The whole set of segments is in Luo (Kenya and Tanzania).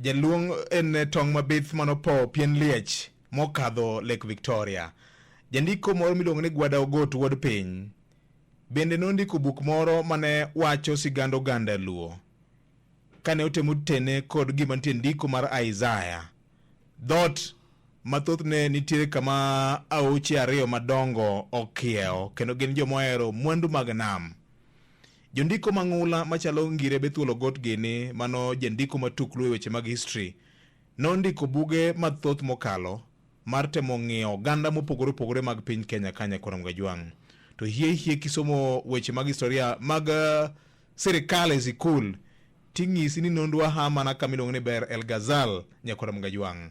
Jaluong en tong' mabith manopowo pien liech mokadho Lake Victoria. Jandiko moro miluongo ni Gwada Ogot wuod piny bende nondiko buk moro mane wacho sigand oganda Luo kane otemo tene kod gima nitie ndiko mar Isaya. Dhot mathothne nitiere kama aoche ariyo madongo okiewo kendo gin joma ohero mwandu mag nam. Jondiko mang'ula machalo Ngire Bethuol Ogot Gini mano jandiko matuklu e weche mag history nondiko buge mathoth mokalo mar temo ng'iyo oganda mopogore opogore mag piny Kenya kanya korom gajwang' to hie hie kisomo weche mag historia mag uh, sirikal e sikul ting'isi ni nondwa ha mana kama iluongo ni Ber El Ghazal nyakoram gajwang'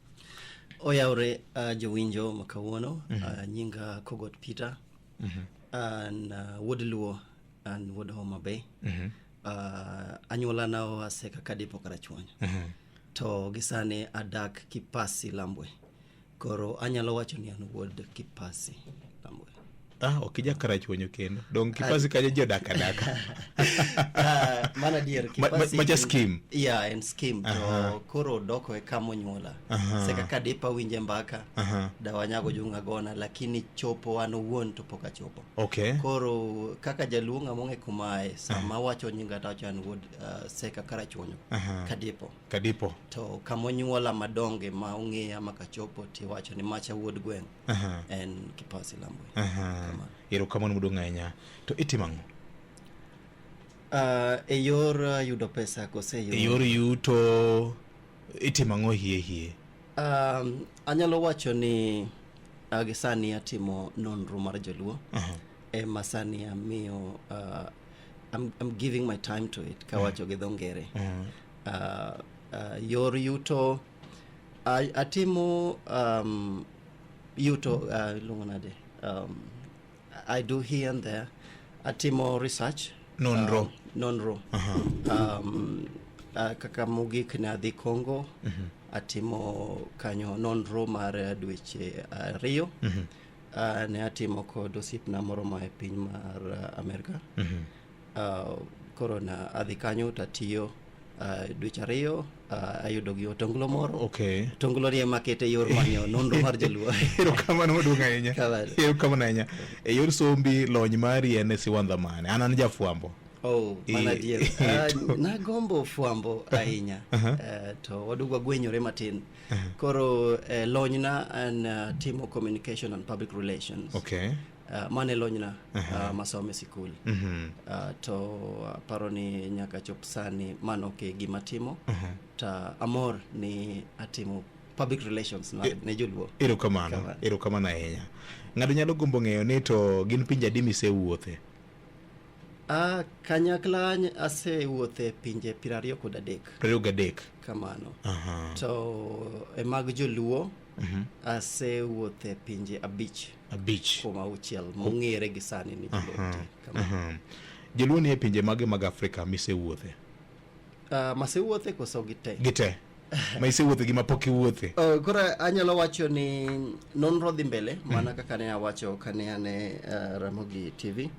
oyawre uh, jowinjo ma kawuono mm -hmm. uh, nyinga kogot peter mm -hmm. an uh, wuod luo an wuod homa bay mm -hmm. uh, anyuolana oa seka kadipo karachuonyo mm -hmm. to gisani adak kipasi lambwe koro anyalo wacho ni an wuod kipasi lambwe Ah, ok ija karachuonyo kendo. Dong kipasi kanyo ji odak adaka. Ah, mano adier Ma- ma- Kipasi- maja skim. yeah en skim Aha. to koro doko e kama onyuola Aha. se kaka dipa winje mbaka Aha. dawanyago junga gona lakini chopo an owuon to pok achopo Okay. koro kaka jaluo ng'a mong'e kumae sama wacho nyinga to wacho an wuod uh, seka karachuonyo Aha. kadipo Kadipo. to kamonyuola madonge ma ong'eya makachopo tiwacho ni macha wuod gweng' Aha. en kipasi lambwe Aha. Kama. erokamano modong' ahinya to itimo ang'o Ah, e yor ah, yudo pesa kose e yor yuto itimo ang'o hie hie Um, anyalo wacho ni ah, gi sani atimo nonro mar joluo Aha. ema sani amiyo ah, I'm, I'm giving my time to it kawacho gi dho ngere Aha. Ah, ah, yor yuto A- atimo um, yuto uh, iluongo nade um, i do here and there atimo research Nonro. um, nonro Aha. um, uh, kaka mogik ne adhi congo atimo kanyo nonro mar eh, dweche ariyo uh, ne atimo kod osiepna moro ma e piny mar uh, amerika Uh, koro na adhi kanyo to atiyo uh, dweche ariyo uh, ayudo gi otonglo moro okay. otonglo ni ema kete yor manyo nonro mar joluo erokamano maduong' ahinya erokamano ahinya e yor sombi lony mari en e siwandha mane an an jafwambo Oh, mana adier. Uh, nagombo fwambo ahinya uh -huh. uh, to wadugu wagwenyore matin uh -huh. koro uh, lonyna an uh, timo communication and public relations okay. Uh, mane lonyna uh, masome sikul Mhm. uh, to aparo ni nyaka chop sani mano ok gima timo to amor ni atimo public relations na, ne joluo erokamano Kamano. erokamano ahinya ng'ato nyalo gombo ng'eyo ni to gin pinje adi misewuothe uh, kanyakla ny- asewuothe pinje piero ariyo kod adek prariyo gadek kamano Aha. to e mag joluo asewuothe pinje abich abich kuom auchiel mong'ere gi sani ni Aha, aha. joluo ni e pinje mage mag afrika misewuothe uh, masewuothe koso gite gite ma isewuothe gi mapok iwuothe Uh, koro anyalo wacho ni nonro dhi mbele mana kaka ne awacho kane ane uh, ramogi tv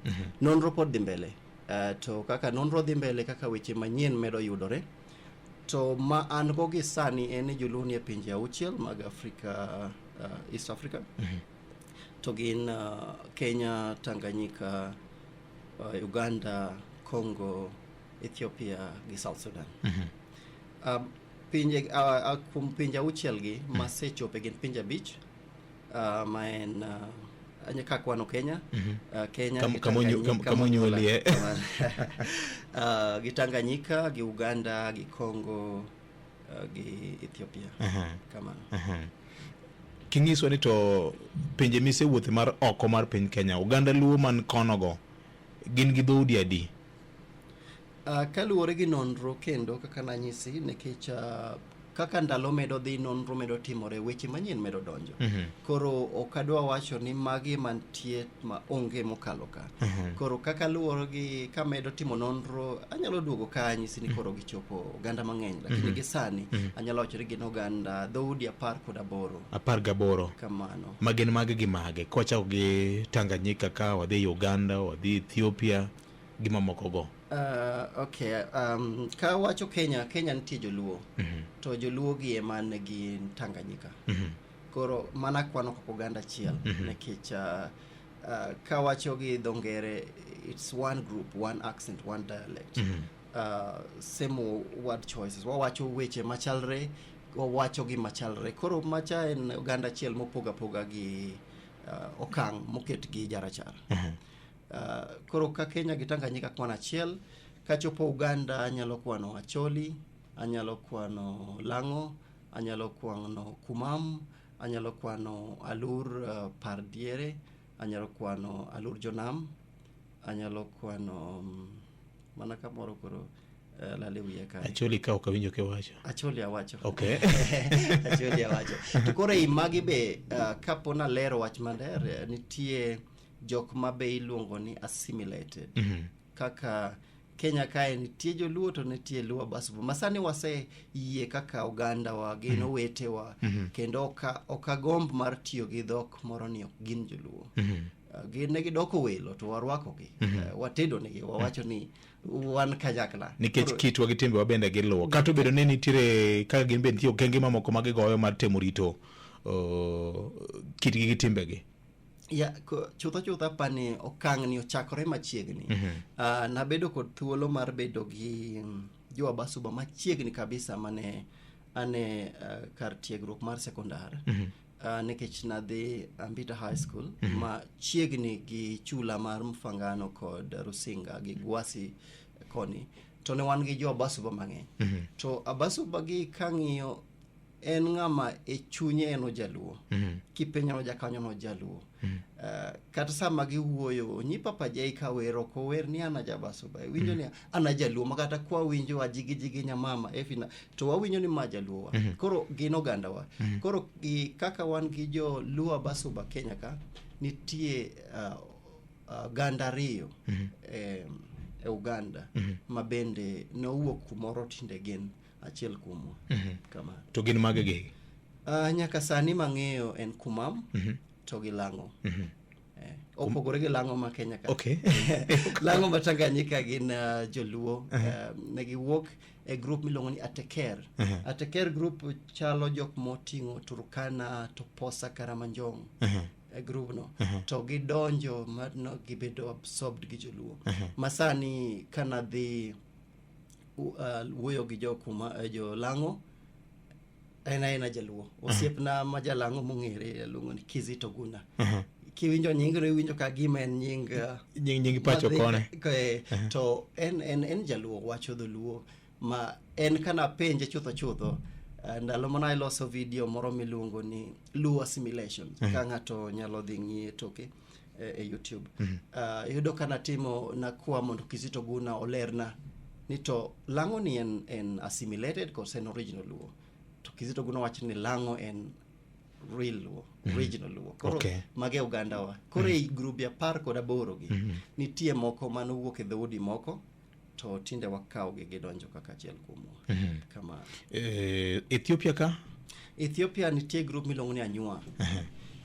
nonro pod dhi mbele uh, to kaka nonro dhi mbele kaka weche manyien medo yudore To ma an go gi sani en ni joluo nie pinje auchiel mag Afrika, uh, East Africa. To gin uh, Kenya, Tanganyika, uh, Uganda, Congo, Ethiopia gi South Sudan. Uh, pinje uh, uh, kuom pinje auchiel gi masechope gin pinje abich uh, ma en uh, anya ka kwano Kenya mm-hmm. uh, Kenya Kam, kamonyu, kam, kamonyuolie uh, gi Tanganyika gi Uganda gi Congo uh, gi Ethiopia uh -huh. kama uh -huh. Kingiswa ni to pinje mise wuoth mar oko mar piny Kenya Uganda luo man kono go gin gi dhoudi adi Uh, kaluwore gi nonro kendo kaka nanyisi nikech uh, kaka ndalo medo dhi nonro medo timore weche manyien medo donjo mm -hmm. koro ok adwa wacho ni magi mantie ma onge mokalo ka mm -hmm. koro kaka luwore gi kamedo timo nonro anyalo duogo ka anyisi ni mhm. koro gichopo oganda mang'eny lakini mm -hmm. gi sani mm -hmm. anyalo wacho ni gin oganda dhoudi apar kod aboro apar gaboro kamano magin mage gi mage kochako gi tanganyika ka wadhi uganda wadhi ethiopia gi mamokogo Ah, okay um, ka wacho kenya kenya nitie joluo Mhm, to joluo gi ema ne gin tanganyika mhm, koro mana kwano kaka oganda achiel Mhm. nikech ah, ah, ka wacho gi dho ngere it's one group one accent one dialect mhm, uh, same word choices wawacho weche machalre wawacho gi machalre koro macha en oganda achiel mopoga poga gi uh, okang' moket gi jarachar mhm. Uh, koro ka Kenya gi Tanganyika kwan achiel, kachopo Uganda anyalo kwano Acholi, anyalo kwano Lang'o, anyalo kwano Kumam, anyalo kwano Alur uh, Pardiere, anyalo kwano Alur Jonam, anyalo kwano um, mana kamoro koro uh, lale wiye kae. Acholi ka ok awinjo kiwacho. Acholi awacho. Okay. Acholi awacho. To koro ei magi be uh, kapo nalero wach maler eh, nitie jok ma be iluongo ni assimilated Mhm. kaka kenya kae nitie joluo to nitie luo basubu masani wase yie kaka oganda wa gin owetewa kendo oka- okagomb mar tiyo gi dhok moro ni ok gin joluo Mhm. Uh, gin ne gidoko welo to warwakogi uh, watedonegi wawacho ni wan kanyakla nikech Koro- kitwa gi timbewa bende giluwo kata obedo ni nitiere kaka gin be nitie okenge mamoko ma gigoyo mar temo rito uh, kitgi gi timbegi Ya, ko- chutho chutho apa ni okang' ni ochakore machiegni Ah, nabedo kod thuolo mar bedo gi mm, jo abasuba machiegni kabisa mane ane ah, kar tiegruok mar sekondar Ah, nikech nadhi ambita high school machiegni gi chula mar mfangano kod rusinga gi gwasi koni to ne wan gi jo abasuba mang'eny to abasuba gi kang'iyo en ng'ama e chunye en ojaluo mm. kipenyo nojakanyo nojaluo mm. uh, eh, kata sama giwuoyo onyi papa jai ka wer ok ower ni an ajabasuba iwinjo mm. ni an ajaluo ma kata kwa winjo ajigijigi nyamama efina to wawinjo ni ma jaluowa mm -hmm. koro gin ogandawa mm -hmm. koro i, kaka wan gi joluo abasuba kenya ka nitie uh, uh, ganda ariyo mm -hmm. eh, e uganda mm -hmm. ma bende nowuok kumoro tinde gin achiel kuomwa Mhm. kamano to gin mage gigi Ah, nyaka sani mang'eyo en kumam Mhm. to gi lang'o Mhm. Eh, opogore gi lang'o ma kenya ka okay lang'o ma tanganyika gin ah, joluo Eh, ne giwuok e grup miluongo ni ateker Mhm. ateker grup chalo jok moting'o turkana toposa karamanjong Mhm. e grubno Mhm. to gidonjo mano gibedo absorbed gi joluo Mhm. masani kanadhi uh, wuoyo gi jokuma uh, jolang'o en aena jaluo osiepna ma jalang'o mong'ere luongo ni kizito guna Aha. kiwinjo nyingno iwinjo ka gima en nying uh, nying nying pacho madhi- kone eh, to en, en, en jaluo wacho dholuo ma en kana penje chutho chutho eh, ndalo mane aloso video moro miluongo ni luo assimilation ka ng'ato nyalo dhi ng'iye toke e, e youtube mm -hmm. uh, yudo ka natimo nakwa mondo kizito guna olerna ni to lang'o ni en, en assimilated kose en original luo to kizito guna wacho ni lang'o en real luo mm -hmm. original luo koro okay. mage ogandawa koro mm -hmm. e grubi apar kod aboro gi mm -hmm. nitie moko manowuok e dhoudi moko to tinde wakawogi gidonjo kaka achiel kuomwa kamano Eh, Ethiopia ka? ethiopia nitie grup miluongo ni anyua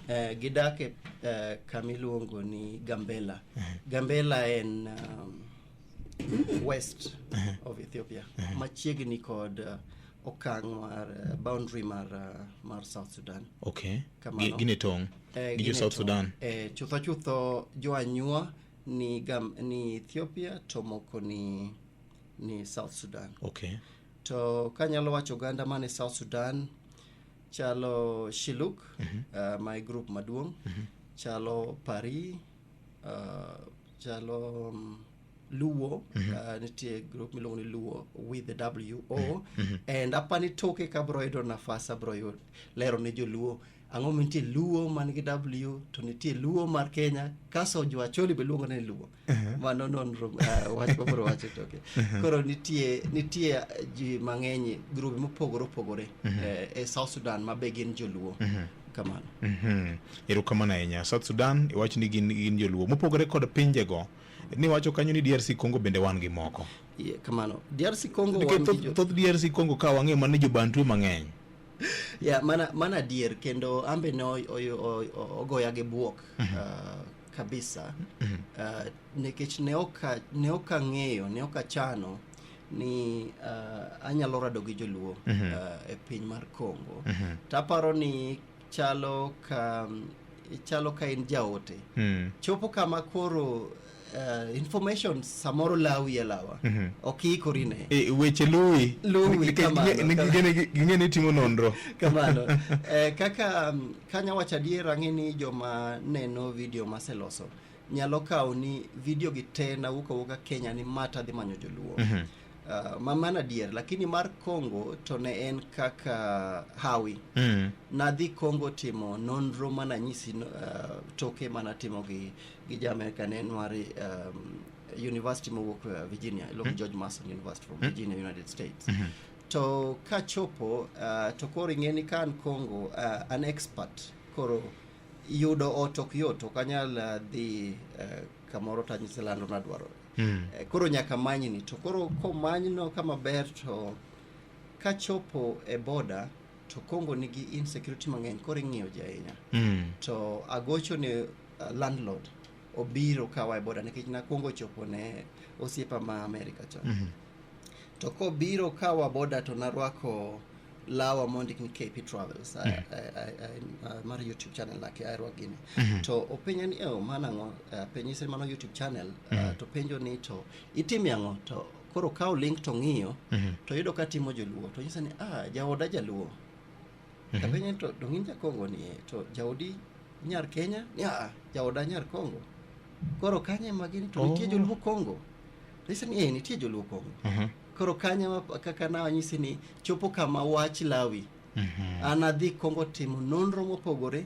eh, gidak e eh, kamiluongo ni gambela gambela en um, west of ethiopia machiegni kod uh, okang' mar uh, boundary mar, uh, mar south sudan Okay. Kamano. Gi- Gine tong. Eh, Gi jo gin e South tong'. Sudan. Eh, chutho chutho jo anyua ni, Gam, ni ethiopia to moko ni, ni south sudan okay to kanyalo wacho oganda man e south sudan chalo shiluk uh, ma e group maduong' chalo pari uh, chalo um, luo uh, nitie group miluongo ni luo with the w o and apani toke kabro yudo nafas abro yud- lero ne joluo Ang'o mantie Luo man gi W to nitie Luo mar Kenya kaso jo Acholi be luongo ni Luo. Mano nonro uh, wach mabro wacho toke. Koro nitie nitie ji mang'eny grube mopogore opogore eh, e South Sudan ma be gin joluo. Kamano. Mhm. erokamano ahinya south sudan iwacho ni gin, gin joluo mopogore kod pinjego niwacho kanyo ni drc congo bende wan gi moko Ye, kamano. DRC Congo wan nikech gi thoth jo- thoth drc congo ka wang'e mane jobantu mang'eny yeah, mana, mana dier kendo ambe ne ogoya gi buok mm -hmm. uh, kabisa mm -hmm. uh, nikech ne ok ne ok ang'eyo ne ok achano ni uh, anyalo rado gi joluo mm -hmm. uh, e piny mar Kongo mm -hmm. taparo ni chalo ka chalo ka in jaote mm. chopo kama koro uh, information samoro lawi e lawa mm -hmm. ok iikori ne e, weche luwi luwi ging'e ni timo nonro kamano e, kaka um, kanya wacho adier ang'e ni joma neno video maseloso nyalo kawo ni video gi te nawuok awuoka kenya ni mata dhi manyo joluo mm -hmm. Uh, ma mano adier lakini mar congo to ne en kaka hawi mm. nadhi congo timo nonro mananyisi uh, toke manatimo gi gi ja America ne nwari um, university mowuok uh, Virginia iluongo George Mason University from Virginia United States to kachopo uh, to koro ing'e ni ka an Congo uh, an expert koro yudo ot ok yot ok anyal uh, dhi uh, kamoro to anyise lando nadwarore Mm. Eh, koro nyaka manyni to koro komanyno ka maber to kachopo e boda to Congo nigi insecurity mang'eny koro ing'iyo ji ahinya Mm. to agocho ne uh, landlord obiro kawa e boda nikech nakwongo chopo ne osiepa ma Amerika chon. Mm -hmm. To kobiro kawa boda to narwako lawa mondik ni KP Travels mm -hmm. mar YouTube channel nake arwa gini mm -hmm. to openja ni oh, mana ang'o uh, penyise mano YouTube channel mm -hmm. uh, mhm. to penjo ni to itime ang'o to koro kawo link to ng'iyo mm -hmm. to yudo ka timo joluo to nyisa ni ah, jaoda jaluo Mhm. apenje ni to donge in jakongo ni "Eh, to jaodi nyar kenya ni aa jaoda nyar kongo koro kanye magini to nitie Oh. joluo kongo nise ni "Eh, nitie joluo kongo Mhm. koro kanye ma- kaka nawanyisi ni chopo kama wach lawi Mhm. an adhi kongo timo nonro mopogore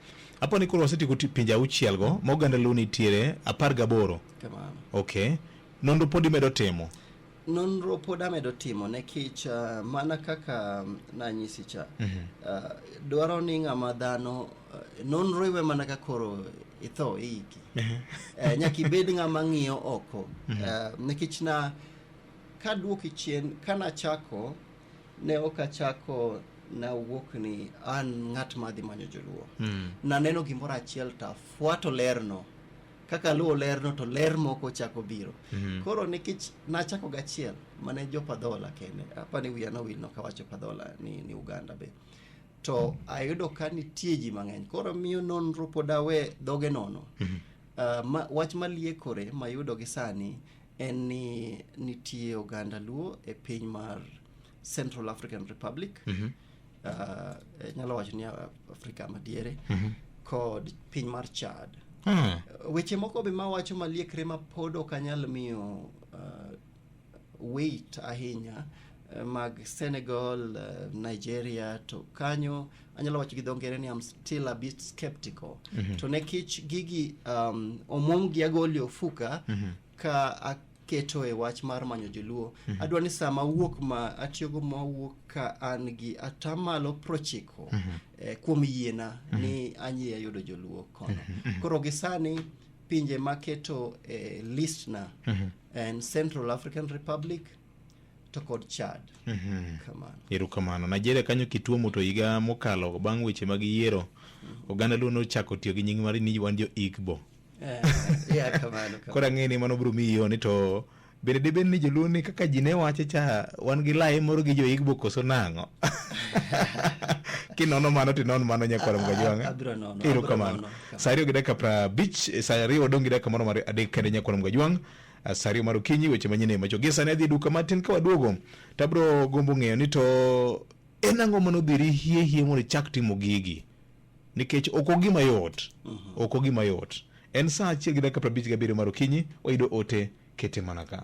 Apo ni koro wasetieko pinje auchiel go ma oganda luo nitiere apar gaboro. Kamano. Okay. Nonro pod imedo timo? Nonro pod amedo timo nikech uh, mana kaka um, nanyisi cha mm -hmm. uh, dwaro ni ng'ama dhano uh, nonro iwe mana ka koro itho iiki mm -hmm. uh, nyaka ibed ng'ama ng'iyo oko mm -hmm. uh, nikech na kaduoki chien kanachako ne ok achako nawuok ni an ng'at madhi manyo joluo Mm. naneno gimoro achiel to afuato lerno kaka aluwo lerno to ler moko chako biro Mhm. koro nikech nachako gachiel mane jo padhola kende apa ni wiya nowil nokawacho padhola ni, ni uganda be to ayudo ka nitie ji mang'eny koro miyo nonro pod awe dhoge nono Mhm. Ah, ma, wach maliekore mayudo gi sani en ni nitie oganda luo e piny mar central african republic mm -hmm. uh, nyalo wacho ni afrika madiere mm -hmm. kod piny mar chad mm. weche moko be mawacho maliekre ma pod ok anyal miyo uh, weight ahinya uh, mag senegal uh, nigeria to kanyo anyalo wacho gi dho ngere ni am still a bit skeptical mm -hmm. to nekech gigi um, omwom gi agoli ofuka mm -hmm. ka aketo e wach mar manyo joluo mm -hmm. adwa ni sama wuok ma atiyogo ma wuok ka an gi atamalo prochiko mm -hmm. eh, kuom yiena mm -hmm. ni anyi ayudo joluo kono mm -hmm. koro gi sani pinje maketo eh, list na mm -hmm. en central african republic to kod Chad. Mhm. Kamano. erokamano nigeria kanyo kituomo to higa mokalo bang' weche mag yiero oganda luo nochako tiyo gi nying mari ni wan jo igbo Eh, yeah, kamano, kamano. koro ang'e ni mano biro miyi yoni to bende dibed ni joluo ni kaka ji ne wache cha wan gi laye moro gi jo igbo koso nang'o kinono mano tinon mano nyakwara mga jwang'a Ah, ah, abiro nono, abiro erokamano nono. saa ariyo gi dakika prabich eh, saa ariyo odong' gi dakika moro mar adek kende nyakwara mga jwang' Saa ariyo mar okinyi weche manyien e macho. Gie sani adhi e duka matin ka waduogo to abiro gombo ng'eyo ni to en ang'o mane odhiri hie hie mondo ichak timo gigi nikech ok ogima yot ok ogima yot en saa achiel gi dakika prabich gabiriyo mar okinyi wayudo ote kete mana ka